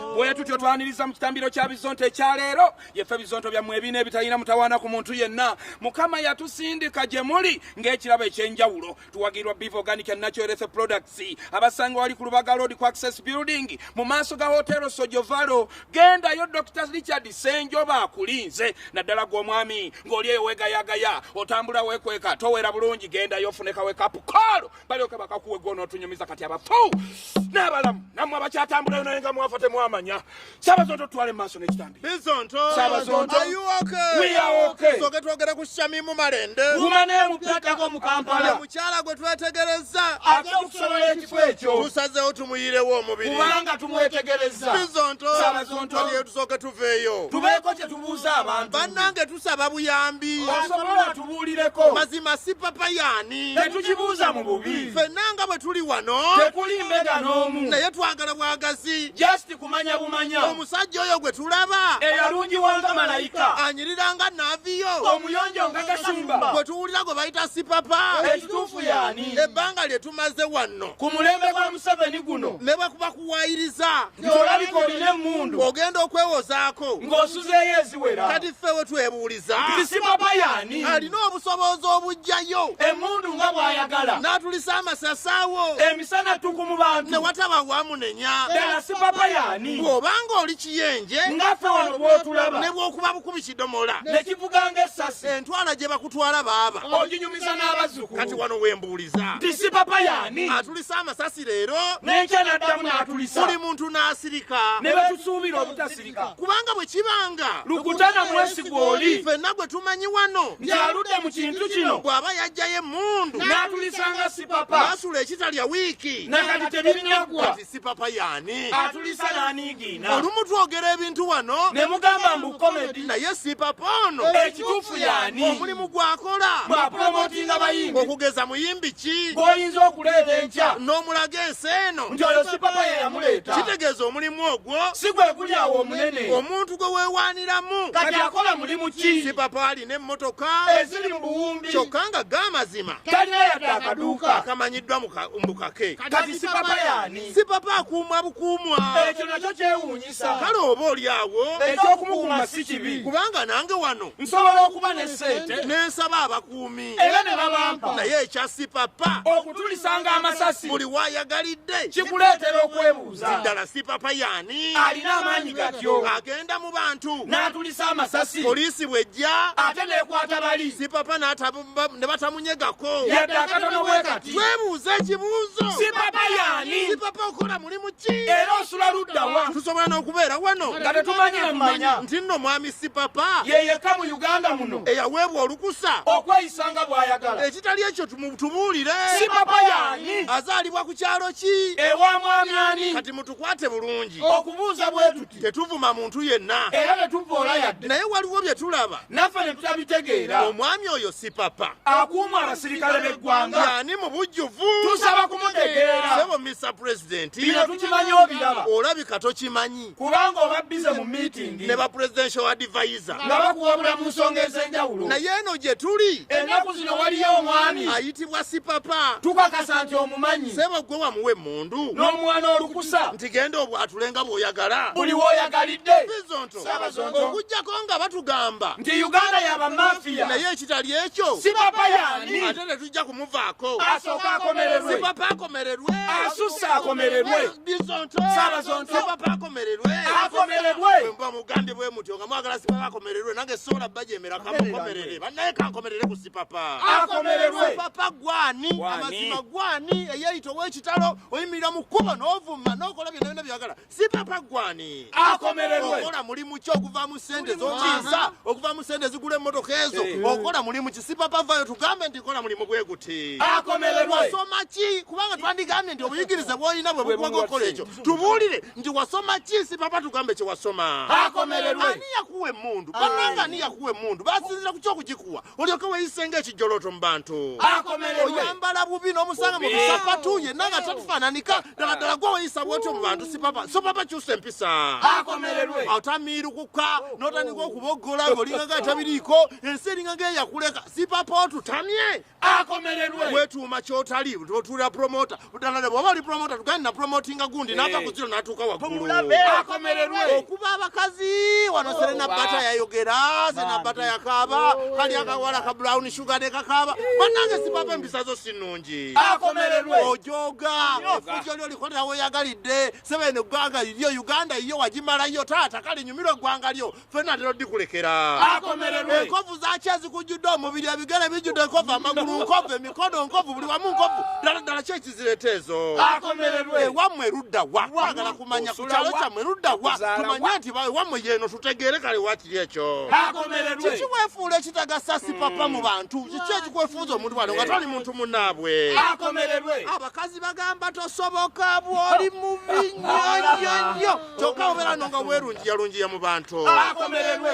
bwe tutyo twaniriza mu kitambiro kya bizonto ekya leero yefe bizonto byammwe ebina ebitalina mutawaana ku muntu yenna mukama yatusindika gye muli ng'ekirabo eky'enjawulo tuwagirwa beef organic and natural efe products abasanga wali ku lubaga road ku access building mu maaso ga hotero sojovalo gendayo dr richard senjoba akulinze naddala gw'omwami ng'oli eyo wegayagaya otambula wekweka towera bulungi gendayo ofunekawe kapukoolo balyoke bakakuwe gwonotunyumiza kati abafu n'abalamu namwe abakyatambulayo naye nga mwafa temwamanya sabazonto tutwale mumaaso n'ekitambi soke twogere ku shamimu malende umanemupyatako mu kampala mukyala gwe twetegereza ate okusobola ekifo ekyo tusazewo tumuyirewo omubiri kubanga tumwetegereza bizonto sabazonto lyetusooke tuveeyo tubeeko kye tubuuza abantu bannange tusaba buyambi osobola tubuulireko mazima si papa yaani tetukibuuza mu bubi fenna nga bwe tuli wano tekuli mbega n'omu naye twagala bwagazi just kumanya bumanya omusajja oyo gwe tulaba eyalungiwanga malayika anyirira nga naaviyo omuyonjo nga kasumba gwe tuwulira gwe bayita si papa ekituufu yaani ebbanga lye tumaze wanno ku mulembe gwa museveni guno ne bwe kuba kuwayiriza ng'olabika olina emmundu ogenda okwewozaako ng'osuzeeyo eziwera kati ffe we twebuuliza tisima bayani alina obusobozi obujjayo emmundu nga bw'ayagala n'atulisa amasasaawo emisana ttuku mu bantu ne wataba wamunenya ddala sipabayani ng'obanga oli kiyenje nga ffe wano bw'otulaba ne bw'okuba bukubi ekidomola ne kivuga ng'essasi entwala gye bakutwala baaba oginyumiza n'abazzukulu kati wano we mbuuliza nti si papa yaani atulisa amasasi leero n'enkya n'addamu n'atulisa buli muntu n'asirika ne betusuubira obutasirika kubanga bwe kibanga lukutana mwesigwa oli ffenna gwe tumanyi wano nti aludde mu kintu kino bw'aba yajjayo emmundu n'atulisanga si papa n'asula ekitalya wiiki nakati tebirinaggwa sipapa yani atulisa nanigina olumu twogera ebintu wano ne mugamba mbu komedi naye sipapa ono ekituufu yani omulimu gwakola bwa promotinga bayimbi okugeza muyimbi ki gwoyinza okuleeta enkya n'omulaga ensi eno nti oyo sipapa ye yamuleeta kitegeeza omulimu ogwo si gwe guli awo omunene omuntu gwe weewaaniramu kati akola mulimu ki sipapa alina emmotoka eziri mu buwumbi kyokka nga ga amazima talina yadde akaduuka akamanyiddwa mu bukake kati sipapa yani sipapa akuuma bukuumwa ekyo nakyo kyewuunyisa kale oba oli awo ekyokumukuuma si kibi kubanga nange wano nsobola okuba ne sente nensaba abakuumi era ne babampa naye ekya sipapa okutulisanga amasasi buli wayagalidde kikuleetera okwebuuza bwebuuza ddala sipapa yani alina amaanyi gatyo agenda mu bantu n'atulisa amasasi poliisi bwejja ate nekwata bali sipapa ne batamunyegako yadde akatono bwe kati twebuuza ekibuuzo sipapa yani sipapa okola mulimu ki era osula luddawa tusobola n'okubeera wano nga tetumanyira mumanya nti nno mwami sipapa yeyekka mu uganda muno eyaweebwa olukusa okweyisa nga bw'ayagala ekitali ekyo mutubuulire si papa yaani azaalibwa ku kyalo ki ewa mwami ani kati mutukwate bulungi okubuuza bwe tuti tetuvuma muntu yenna era tetuvoola yadde naye waliwo bye tulaba naffe ne tutabitegeera omwami oyo si papa akuuma abasirikale b'eggwanga yaani mu bujjuvu tusaba kumutegeera sebo mr president bino tukimanyi obiraba olabika tokimanyi kubanga oba bize mu meeting ne ba presidential advisor nga bakuwabula mu nsonga ez'enjawulo naye eno gye tuli ennaku zino waliyo omwami ayitibwa sipapa tukakasa nti omumanyi sebo gwe wamuwa emmundu n'omwana olukusa nti genda obwatule nga bw'oyagala buli w'oyagalidde bizonto okuggyako nga batugamba nti uganda yaba mafiya naye ekitali ekyo sipapa yani tujja kumuvaako asooka akomererwe sipapa akomererwe asusse akomererwe bizonto sabazonto sipapa akomererwe akomererwe mba mugambye bwe mutyo nga mwagala sipapa akomererwe nange sola bajemera kamukomerere banaye kankomerere ku sipapa akomererwe sipapa gwani amazima gwani eyeyita owekitalo oyimirira mu kkubo n'ovuma n'okola byonna byonna byagala si papa gwani akomererwe okola mulimu ki okuva mu sente zokiisa okuva mu sente zigula emmotoka ezo eh. okola mulimu ki si papa vayo tugambe nti kola mulimu gwe guti akomererwe wasoma ki kubanga twandigambye nti obuyigirize bwolina bwe bukuwaga okukola ekyo tubuulire nti wasoma ki si papa tugambe kye wasoma akomererwe ani yakuwa emmundu ah. bananga ani yakuwa emmundu basinzira ku kyokugikuwa olyoke weyise ng'ekijjolooto mu bantu oyambala bubi n'omusanga mu bisapatu yenna nga tatufaananika ddala ddala gwe weyisa bwotyo mu bantu sipapa so papa kyusa empisa otamiirukuka n'otandika okuboggola ng'olinga nga atabiriiko ensi eringa ng'eyakuleka sipapa otutamye wetuuma kyotali otuulira promota budalale bwaba ali promota tugende na promotinga gundi eh. nava kuziro natuuka wagguluakomererwe eh, okuba abakazi wano oh, serena bata yayogera serena bata yakaaba oh, kali akawala ka brown sugar ne kakaaba banange sipapa empisa zo sinungi akomererwe ojoga efujo lyo likolera weyagalidde sebene eggwanga liryo uganda yiyo wagimalayo taata kali nyumira eggwanga lyo fena lero dikulekera akomererwe enkovu zaki ezikujjudde omubiri ebigere bijjudde enkovu amagulu nkovu emikono nkovu buli wamu nkovu ddala ddala ki ekizireta ezo akomererwe ewammwe erudda wa twagala kumanya ku kyalo kyammwe erudda wa tumanye nti ewammwe yeeno tutegeere kale wakiri ekyo akomererwe kiki wefuula ekitagasa si papa mu bantu kiki ekikwefuuza omuntu wano nga toli muntu munaabwe akomererwe abakazi bagamba tosoboka bw'oli mubi nnyo nnyo nnyo kyokka obeera no nga weerunjiyalunjiya mu bantu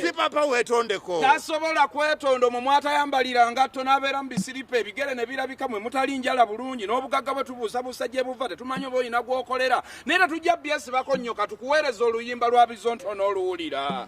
si papa weetondeko tasobola kwetonda omwo mwatayambalira ngatto n'abeera mu bisiripa ebigere ne birabika mwe mutali njala bulungi n'obugagga bwe tubuusabuusa gye buva tetumanyi oba olina gw'okolera naye tetujja byesibako nnyo katukuweereza oluyimba lwa bizonto n'oluwulira